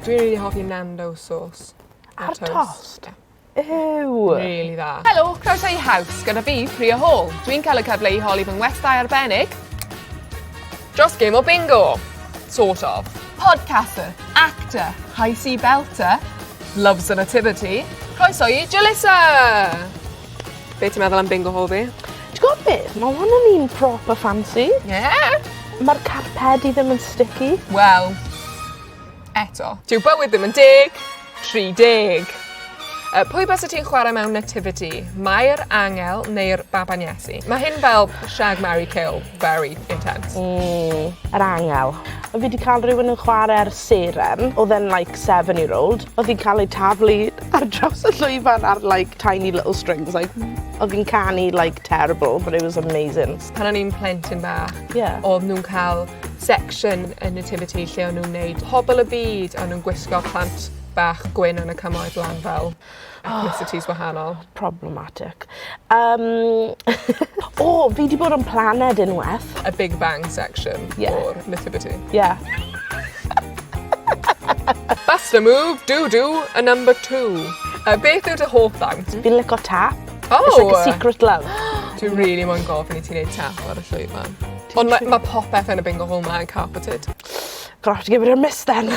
Dwi rili hoffi Nando's sauce. Ar tost? Ie. Yw! Rili dda. Helo, croeso i Haws gyda fi, Priya Hall. Dwi'n cael y cyfle i holi fy ngwestai arbennig dros gêm o bingo. Sort of. Podcaster, actor, high sea belter, loves the nativity. Croeso i Jalissa! Be ti'n meddwl am bingo hall fi? Ti'n gwybod beth? Mae hwn yn un proper fancy. Ie. Yeah. Mae'r carpedi ddim yn sticky. Wel, eto. Dyw bywyd ddim yn deg, 30. Uh, pwy bys y ti'n chwarae mewn nativity? Mae'r angel neu'r baban Iesu? Mae hyn fel shag, marry, kill, very intense. Mm, yr angel. Fi wedi cael rhywun yn chwarae'r seren, oedd e'n like seven year old. Oedd hi'n cael ei taflu ar draws y llwyfan ar like tiny little strings. Like, oedd hi'n canu like terrible, but it was amazing. Pan o'n i'n plentyn bach, yeah. oedd nhw'n cael section y nativity lle o'n nhw'n wneud pobl y byd o'n nhw'n gwisgo plant bach gwyn yn y cymoedd lan fel ethnicities wahanol. Problematic. Um, o, oh, fi di bod yn planed unwaith. A Big Bang section yeah. o'r nativity. Yeah. Bust a move, do do, a number two. A beth yw dy hoff ddawnt? Fi'n lico tap. Oh! It's like a secret love. Dwi'n really moyn gofyn i ti wneud tap ar y llwyfan. Ond ma' ma' popeth yn y bingo hall 'ma yn carpeted. Gonna have to give it a miss then.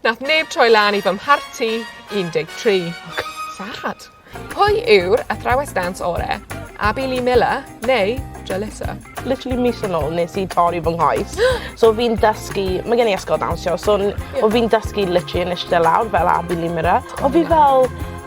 Nath neb troi lan i fy mharti un deg tri. O God. Sad. Pwy yw'r athrawes dawns ore'? Abi Lee Miller neu Jalissa? Literally mis yn ôl nes i torri fy nghoes. So fi'n dysgu ma' gen i ysgol dawnsio so n- o fi'n dysgu literally yn ishte lawr fel Abi Lee Miller. O fi fel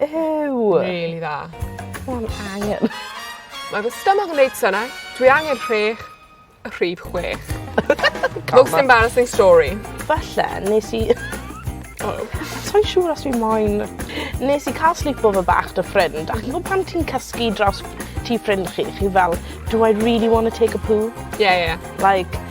Ew! Rili dda. O fi angen. Mae fy stomach yn neud synne. Dwi angen rhech. Y rhif chwech. Most embarrassing story. Falle nes i O. Sai'n siŵr os fi moyn. Nes i ca'l sleepover bach 'da ffrind a ch'mo' pan ti'n cysgu dros tŷ ffrind chi chi fel do I really wanna take a poo? Ie ie. Like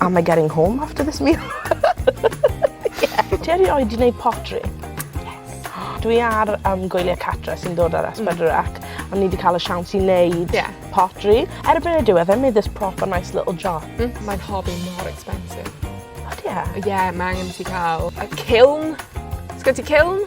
Am I getting home after this meal? Ie. Ti erioed 'di neud pottery? Yes. Dwi ar yym gwylie cartre sy'n dod ar Es Pedwar Ec a ni 'di ca'l y siawns i neud... Ie. ...pottery. Erbyn y diwedd I made this proper nice little jar. Hmm. Mae'n hobby mor expensive. Ydi e? Ie ma' angen i ti ca'l y kiln. Sgyn ti kiln?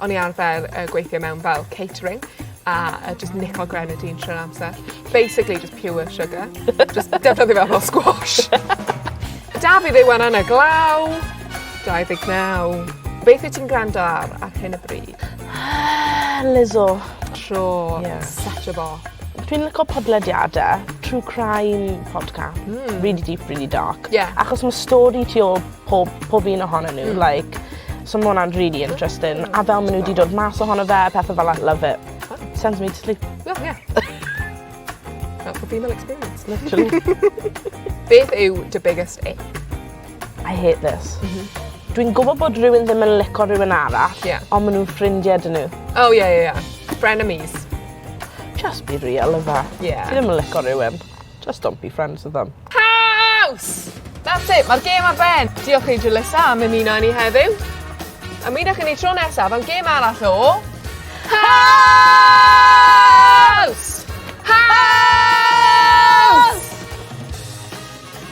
O'n i arfer yy gweithio mewn fel catering a yy jyst nico grenadine trwy'r amser. Basically jyst pure sugar. Jyst defnyddio fe fel squash. 'Da fi ddim yn anner glaw. 29. Beth wyt ti'n gwrando ar ar hyn o bryd? Lizzo. Tro. Ie. Set o fo. Dwi'n lico podlediade true crime podca-... Hmm. ...rili deep rili dark. Ie. Achos ma' stori ti ôl pob pob un ohonyn n'w like so ma' wnna'n rili interesting a fel ma' n'w 'di dod mas ohono fe a pethe fel 'a love it. Sends me to sleep. O ie. That's the female experience. Literally. Beth yw dy biggest ache? I hate this. M-hm. Dwi'n gwbo bod rywun ddim yn lico rywun arall. Ie. On' ma' nw'n ffrindie 'da n'w. O ie ie ie. Frenemies. Jyst be real yfe? Ie. Ti ddim yn lico rywun. Just don't be friends with them. Caws! That's it, mae'r gêm ar ben. Diolch i Julissa am ymuno â ni heddiw. A mi ddech i ni tro nesaf am gêm arall o... Caws! Caws!